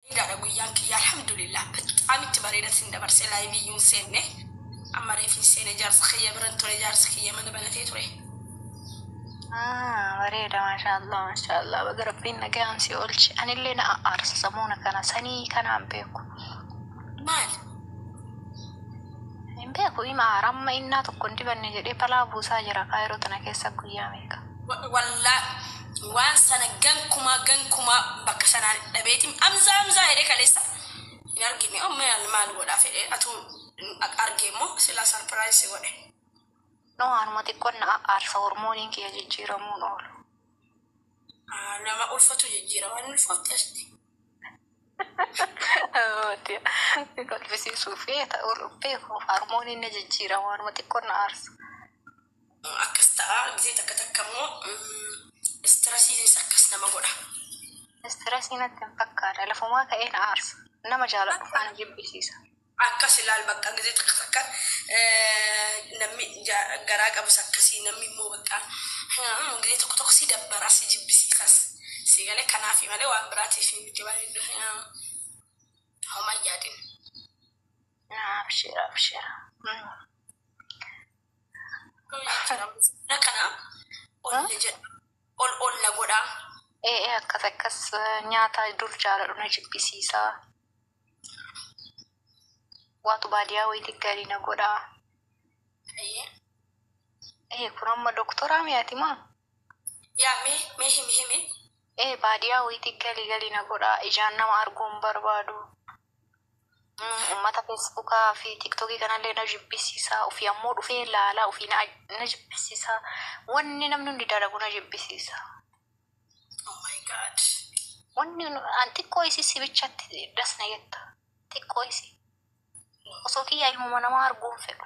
Bareedaadha guyyaan kiyya alhamdulillah bexaam itti bareeda sin dabarse laayivii yuun seenne amma reefin seene jaarsa kiyya biran ture jaarsa kiyya mana banatee ture. Ah, bareeda maashaallah maashaallah baga rabbiin nagaan si oolche anillee na aarsa samuuna kana sanii kanaan beeku Maal? hin beeku ima aara amma innaa tokko hin dibanne jedhee balaa buusaa jira kaayiroo tana keessa guyyaa meeqa Wallahi waan sana gankumaa gankumaa bakka sanaan dhabeetim amzaa amzaa jedhee kaleessa hin argine oh maal maal godhaa fedhee atuu argee immoo silaa sarpiraayiz si godhe. No anuma xiqqon na aarsa hormooniin kiyya jijjiiramuun oolu. Ah, Nama ulfatu jijjiira waan ulfootti asti. Si kolfisiisuu fi ta'uu dhubbee koo harmooniin na jijjiirama anuma xiqqon na aarsa. akkas ta'a gizee takka takka immoo stresiinis akkas nama godha. Stressii natti hin fakkaata lafumaa ka'ee na aarsa nama jaaladhu faana jibbisiisa. akkas ilaal bakka gizee takka takka namni garaa qabus akkasii namni immoo bakka gizee tokko tokko si dabbara si jibbisiisas si galee kanaafi malee waan biraatiif hin miti waan heddu homaa yaadin. Abshira abshira. Mana kana ol na jedha. Ol ol na godha. Ee ee akkas akkas eh, nyaata dur jaaladhu na jibbisiisa. Waatu baadiyaa wayiiti gaarii na godha. Ee, Ee kun amma doktoraa mi'aati maa? Yaa mee mee himi himi. Ee baadiyaa woyiti gali gali na godhaa ijaan nama arguu hin barbaadu ummata fesbuka fi tiktoki kanallee na jibbisiisa ufii ammoo dhufee laalaa ufii na na jibbisiisa wanni namni hundi dalagu na jibbisiisa Oh my God. wanni nu- an xiqqoo isii si bichatti das na jetta xiqqoo isii osoo kiyyaa ilmuma namaa arguu hin fedhu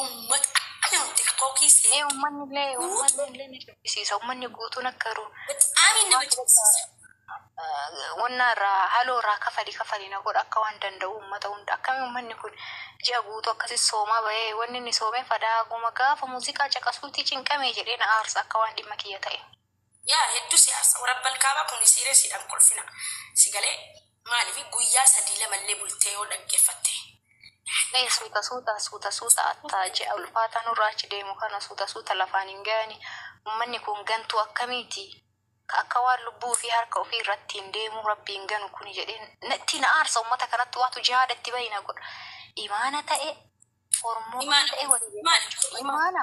Uummata akka nama tiktookii Ee seetu ummanni illee ummanni guutuu illee ni jibbisiisa. Ummanni guutuun akka yeroo bexaamii nama waan bakka jibbisiisa. wannaa irraa haloo irraa kafali kafali na godha akka waan danda'u ummata hunda akkamii ummanni kun ji'a guutuu akkasi soomaa bahee wanni inni soomee fadaa guma gaafa muuziqaa caqasuutii cinqamee jedhee na aarsa akka waan dhimma kiyya ta'e. Yaa heddu si arsa warabban kaaba kuni siiresidha hin kolfina si galee maalifi guyyaa sadii lama illee bultee yoo dhaggefatte Ee Yaa suuta suuta suuta suuta atta ji'a ulfaata nurra achi deemu kana suuta suuta lafaan hin gayani ummanni kun gantuu akkamiiti ka akka waan lubbuu ufii harka ufii irrattiin deemuu rabbi hin ganu kuni jedhe natti na aarsa ummata kanattu waatu jihaada itti bayi na godha imaana ta'e ormummaa ta'e wani beekan imaana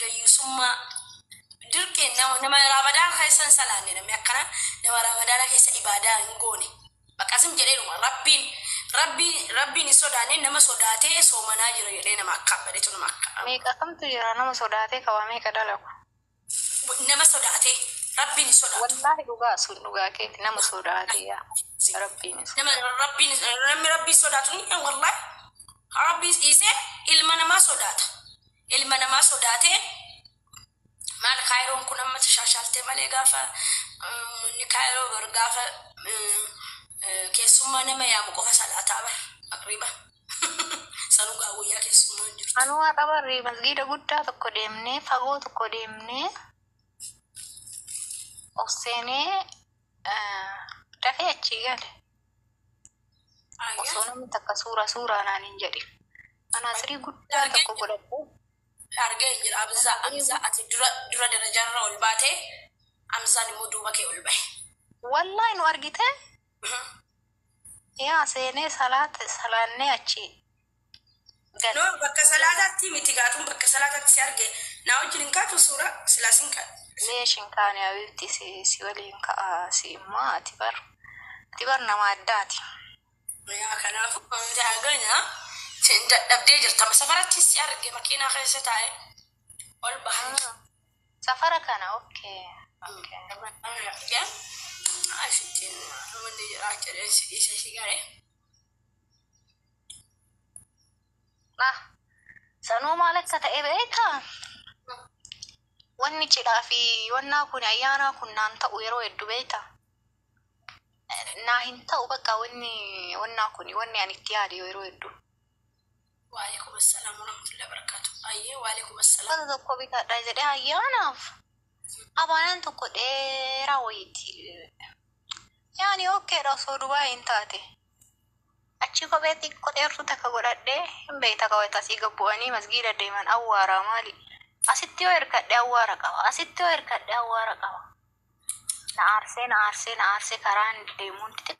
dayyusummaa dirqiin nama nama ramadaan keessa hin salaanne namni akkana nama ramadaana keessa ibaadaa hin goone bakka zim jedheedhuma rabbiin rabbii rabbiin hin sodaanne nama sodaatee soomanaa jira jedhee nama akkaan badhetu nama akkaan Meeqa kamtu jira nama sodaatee qabaa meeqa dalagu. nama sodaatee rabbiin hin sodaatu Wallaahi dhugaa sun dhugaa keeti nama sodaatee yaa rabbiin isa. nama rabbiin namni rabbiin sodaatu ni wallahi rabbiin dhiisee ilma namaa sodaata ilma namaa sodaate maal kaayiroon kun amma tashaashaaltee malee gaafa uummanni kaayiroo bar gaafa keessummaa nama yaamu qofa salaataa bar maqriba sanuu gaa guyyaa keessummaa hin jirtu. Anuu har'a barri masgiida guddaa tokko deemnee fagoo tokko deemnee of seenee dafee achii gale. osoo namni takka suuraa suuraa naan hin jedhin manaaxirii guddaa tokko godhadhee argee hin jira amzaa amzaa ati dura dura darajaarra ol baate amzaan immoo duuba kee ol bahe wallaahi nu argitee yaa seenee salaate salaannee achi Gala. Noor bakka salaataatti miti gaa tun bakka salaataatti si arge naa wajjin hin kaatu suura silaa sin kaadha. Leesh hin kaane habibti si si waliin ka'a si immoo ati bar ati bar nama addaati. Yaa kanaafu hundaa gana sin dadhabdee jirta amma safaratti si arge makiinaa keessa taa'e ol bahan. Safara kana ok ok. Amma na fide asittiin wanni jiraa jedhee si dhiise si garee. Nah, sanuu maal akka ta'e beektaa? Wanni cidhaa fi wannaa kun ayyaanaa kun naan ta'u yeroo hedduu beektaa? Naa hin ta'u bakka wanni wannaa kun wanni ani itti yaade yeroo hedduu. Waalaikum assalam warahmatullahi wabarakatuh. Ayyee waalaikum assalam. Uffata tokko bitadha jedhee ayyaanaaf abaayaan tokko dheeraa wayiiti. Yaani okkeedha osoo Dubaay hin taate. Achii kophee xiqqo dheertuu takka godhadhee hin beeyta ka wayta asii gad bu'anii masgiida deeman awwaaraa maali asitti yoo hirkadhe awwaara qaba asitti yoo hirkadhe awwaara qaba na aarsee na aarsee na aarsee karaan deemuun xixiqqoo